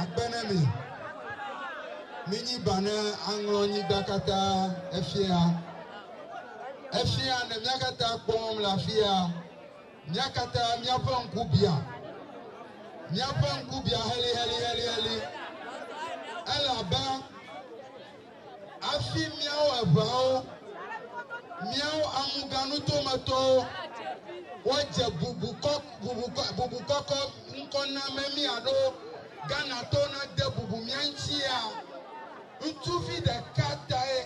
Agbe ne mi! Minyi ba ne aŋlɔ nyigba katã efia. Efia ne mía katã kpɔm le afia. Mía katã míaƒe ŋku bia. Míaƒe ŋku bia heliheliheliheli. Elabe. Hafi míawo eveawo, míawo amuganutometɔwo, woadze bubu kɔ, bubu kɔ, bubu kɔkɔ ŋkɔ na mɛ mí alo Ghanatɔwo nade bubu mía ŋutia? Ŋutsuvi ɖeka tae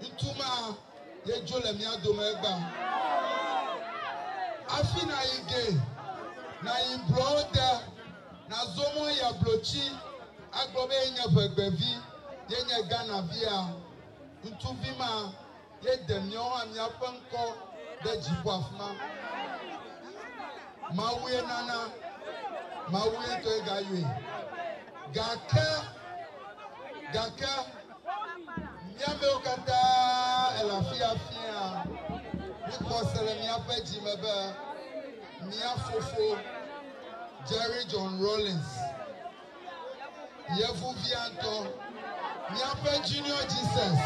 ŋutsu ma ye dzo le mía dome egbea. Hafi nàyi ge, nàyi blɔwo te, nàzɔ mɔ yi ablotsi. agblɔ be yenye ʋegbevi, yenye Ghana via, ŋutsuvi ma ye de miawo hã miaƒe ŋkɔ ɖe dziƒo afima. Mawue nana, Mawue ŋutɔe gayɔe. Gake, gake, miamewo katã ele afia fia, mikpɔ se le miaƒe dzi me be mia fofo, Jerry John Rawlings, Yevuviantɔ, Míaƒe Junior Jesus.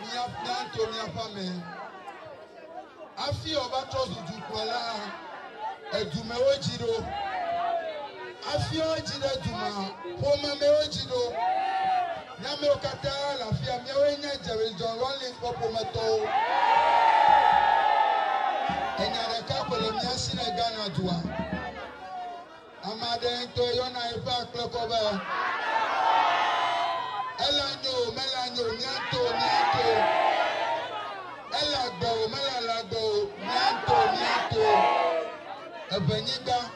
Míato míaƒe ame. Afi ɔva trɔ zu dukplɔla, edumewo dzi ɖo. Afi ɔdzi ɖe duma, ƒomemɛwo dzi ɖo. Miamewo katã le afia, miawoe nye Jerry John Rawlings ƒe ƒometɔwo. Enya ɖeka koe le mía si le Ghana dua. Ame aɖe ŋutɔe yɔna eƒe akple kɔ be, Ele anyo o, mele anyo o, mia ŋutɔ o, mia ŋutɔ o. Ele agbe o, mele le agbe o, mia ŋutɔ o, mia ŋutɔ o. Eʋenyigba.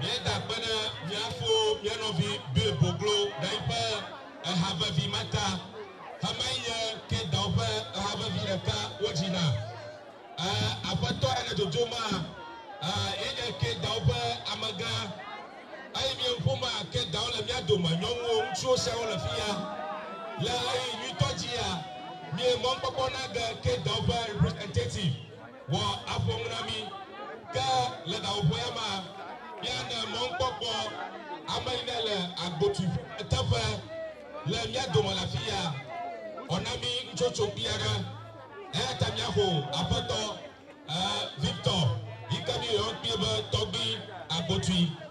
Míeda akpe ɖe mía fo mía nɔvi Bill Boglo ɖe yiƒe eha vevi ma ta. Xemee nye Kate-Dow ƒe eha vevi ɖeka wodzi na. E, aƒetɔ aɖe le dzodzom ma. E, ye nye Kate-Dow ƒe amegã. Eyi mie ŋu ma, Kate-Dow le mía dome. Nyɔnuwo, ŋutsuwo siaa wole fi ya. Le ɣeyiɣi nyuitɔ dzia, mie mɔnukpɔkpɔ na ge Kate-Dow ƒe representative. Wɔ afɔ ŋu na mí. Ke le ɖawoƒe ya ma, míaɖe mɔŋkpɔkpɔ ame yi ne le agbotui ƒe me teƒe le mía dome le afi ya. Wɔ na mí nutsotso kpui aɖe. Eya ta míaxo Aƒetɔ, ɛɛ, Victor yi ke míeyɔa kpui be Tɔgbui agbotui.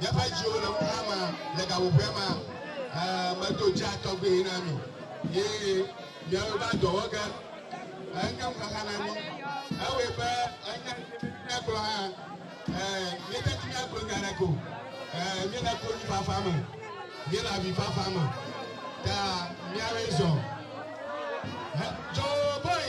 Míaƒe dziwo le ŋuxa ma, le gaƒoƒoea ma, ɛɛ, medo dzea tɔgbuiwo na mi. Ye miawo va dɔ wɔ ge. Enye ŋuxaxa na mi. Ewɔe be enya míagblɔ hã, ɛɛ, míededi míagblɔ nya aɖeke o. Ɛɛ, míele konyifafa me. Míele avifafa me. Ta miawoe zɔ. Hɛ, Joe Boy!